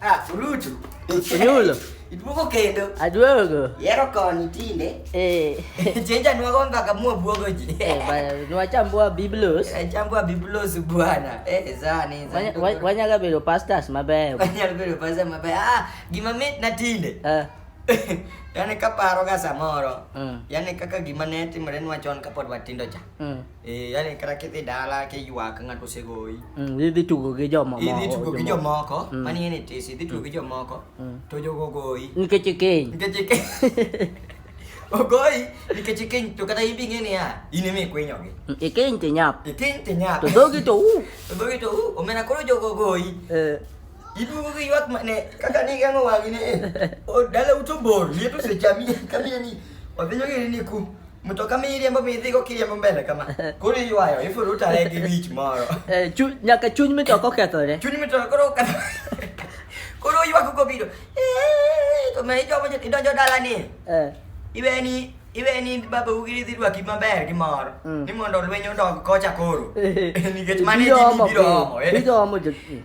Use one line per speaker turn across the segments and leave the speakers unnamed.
Ah, ulutu. Ululo. Iduogo kendo. Aduogo. Yero koni tinde. Eh. Chenja nwago mpaka mua buogo ji. Eh, bana nwachambua biblos. Eh, chambua biblos bwana. Eh, zani zani. Wanya wanya bedo pastors mabeyo. Wanya bedo pastors mabeyo. Ah, gima mit na tinde. Eh. yani kaparo ga samoro mm. yani kaka gima ne timore nwa chon kapod watindo cha mm. Eh, yani kata kidhi dala kiywak ng'ato osegoyi mm, idhi tugo gi jomoko idhi tugo gi jomoko mm. mani en itis idhi tugo gi mm. jomoko mm. to jogo ogoyi nikech ikeny nikech ikeny ogoyi nikech ikeny to kata ibi ng'e niya in ema ikwinyogi mm, ikeny to inyap ikeny to inyap to dhogi to u to dhogi to u omena koro jogo ogoyi eh. iduogo gi ywak mane kaka ni gang'o wang'ine eh, dala uto bor liet osechami kamine ni odhi nyogini ni ku Mtoka miriambo midhigo kiriambo mbele kama. Koro iywayo, ifulo utare gi wich moro. Eh, chu- nyaka chuny mitoka okethore Chuny mitoka koro oketho. Koro ywak kobiro. "Eh, To me ijomo je- idonjo dalani. Eh, Iweni iweni babau gi dhi rwaki maber gi mor. Mm. Ni mondo lweny odog kocha koro. Nikech mane ji ijomo, biro eh. omo. eh. ijomo jo-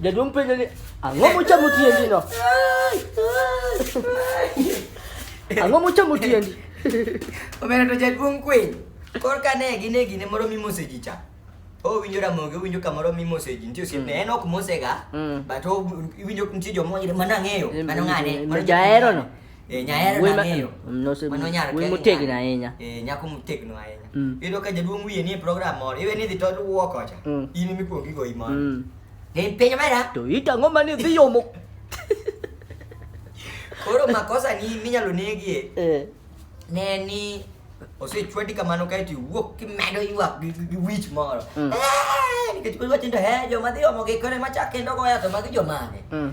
Jadi umpe jadi ango ah, mucha muti yendi no. Ango ah, mucha muti yendi. Omena to jad bung kuin. Kor kane gine gine moro mi mose jicha. O winjo ra moge winjo kamoro mi mose ji. Ntie osip ne en ok mose ga. But o winjo ntie jo mo mana ng'eyo. Mano ng'ane. Mano jaero no. Eh, nyahera Wema- nang'eyo. no, se- Mano nyar we kia motegno nyar. ahinya. Eh, nyako motegno ahinya Mm. iyudo ka jaduong' wiye nie program moro iwe ni idhi to wuo kocha Mm. in mikuongo igoyi moro Mm. Gin piny omera to it ang'o mane idhi yomo koro makosa ni minyalo negie Eh, ne en ni osechwadi kamano kaeto iwuok kimedo ywak gi- gi gi wich moro Mm. Eh, nikech koro wachni to he joma dhi omo gi kore machak kendo goya to magi jomane mm.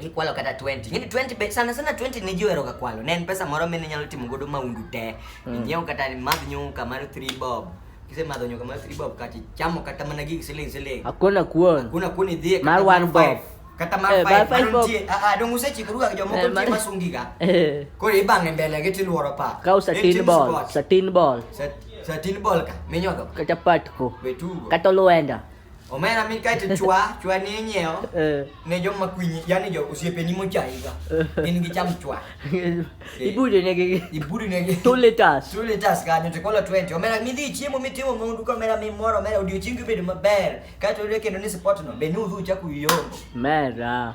ikwalo kata 20 ngini 20 be sana sana 20 ni jiwero ga kwalo ne en pesa moro mine nyalo timo godo maundu te mm. inyiew kata madh nyuka mar 3 bob kise madho nyuka mar 3 bob kati chamo kata mana gigi siling siling hakuna kuon hakuna kuon idhie mar 1 bob kata mar 5 eh, mar nitie a ah, a ah, dong usechikruga ga jomoko eh, nitie masungi ga eh. koro ibang'e mbele gi tiluoro pa ka usatin ball satin ball satin ball ka minyodho kata patko kata luenda Omera mi kae to chwa, chwa ni inyiewo Eh. ne joma kwinyi, yani jo osiepeni mochayiga. Gin gicham chwa. Ibude negi Ibudi negi. 2 liters. Two liters kanyo to kola 20. Omera midhi chiemo mitimo maundu ka omera mimoro omera odiochiengi bedo maber. Kae to oyudo kendo ni support no. Be ni udhi uchaku yombo. Mera.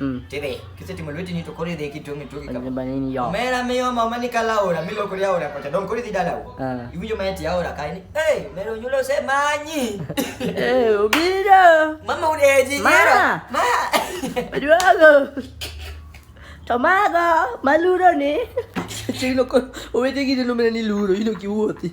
Mm. Tebe, kise timu lweti ni tokore de kitu ngi toki kama. Bani ni yo. Mera me yo mama ni kala ora, mi lo kuri ora kwa don kuri didala u. Ah. Ibu jo mayati ora kai ni. Eh, mero nyulo se manyi. Eh, ubiro. Mama udeji nyero. Ma. Aduago. Tomago, maluro ni. Chino ko, uwete gidi lumene ni luro, ino kiwoti.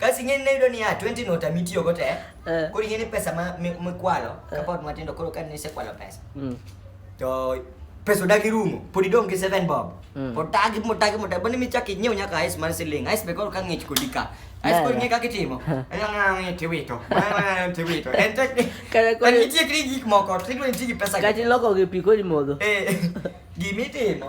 Kasi ing'e ni nayudo niya 20 nota mitiyogo te Eh. koro ing'e ni pesa ma- mi- mikwalo kapod matindo koro ka nisekwalo pesa Mm. to pesa odagi rumo pod idong' gi 7 bob Mm. pod tagi motagi motagi bende michak inyiew nyaka ice mar siling ice be koro ka ng'ich kodi ka ice koro Yeah. ing'e kaka itimo tiwito tiwito en tek ni Kare kore- en nitie kri gik moko to idwa nitie gi pesa Kati loko gi pi kodi modho. Eh, gimitimo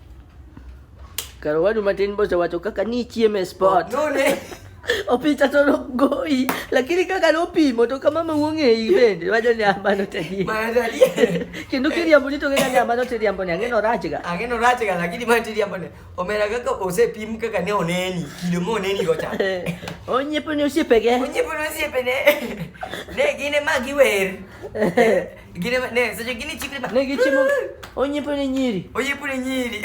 Karo wadu matin bosa wacho kaka ni chiemo e sport. No ne. Opicha to nogoyi lakini kaka nopimo to kama ma wong'eyi bende wacho ni amano tedi. Mano adier. Kendo kiriambo ni to kaka ni amano tiriambo ni ang'eno rachga. Ang'eno rachga lakini mano tiriambo ni. Omera kaka osepim kaka ne oneni kido ma oneni go cha. Onyiepo ni osiepege. Onyiepo ni osiepene. Ne gine ma giwer. Gine ne sasa gine chikri ba. Ne gichi mo. Onye pone nyiri. Onye pone nyiri.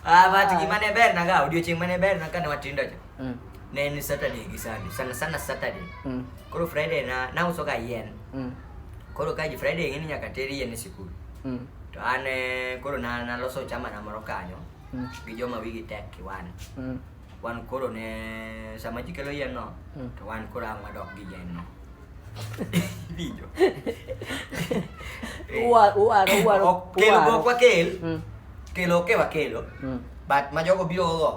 Ah ba tu gimana ber na ga audio ching mana ber na kana watinda cha. Mm. Ne ni Saturday gi Sunday. Sana sana Saturday. Mm. Koro Friday na na usoka yen. Mm. Koro kaji Friday ngini nyaka teri yen sikul. Mm. To ane koro na na loso chama na moro kanyo. Mm. Gi joma wigi tek kiwana. Mm. wan koro ne sama ji kelo yien no hmm. to wan koro ang' wadok gi yien no winjo kelo gok wakel hmm. kelo ke wakelo hmm. but ma jogo biro go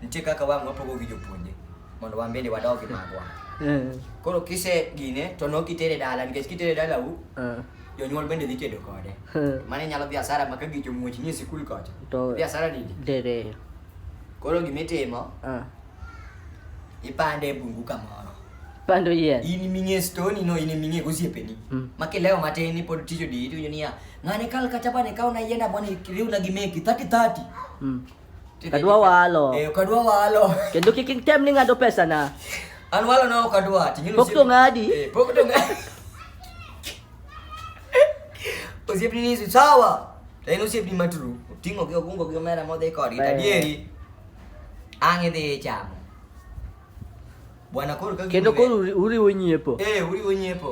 nitie kaka wang' wapogo gi jopuonje mondo wan bende wadog gi magwa koro kise gine to nok itere dala nikech kitere dala u jonyuol bende dhi tedo kode mane nyalo dhi asara ma ka gicho muoch nie sikul kocha dhi asara nini Koro gima itimo, Ah. ipande e bungu kamoro. Pando yien. In iming'e stoni no, in iming'e gosiepeni. Mm. Ma kilewo matin ipod tich odi, iwinjo niya, ng'ane kal kata bane kaw na yienda bwana riwna gi meki, thati thati. Mm. Kadwa walo. Eh, kadwa walo. Kendo kik item ni ng'ado pesa na. An walo na ok adwa. Ting'e Pok to ng'adi. Eh, pok to ng'adi. Osiepni ni sawa. En osiepni ma true. Oting'o gi ogungo gi omera modhi kodgi. Ber. Adieri. Ang' idhi ichamo. Bwana koro ka Kendo gimbe- koro uri- uriwo nyiepo. Eh, uriwo nyiepo.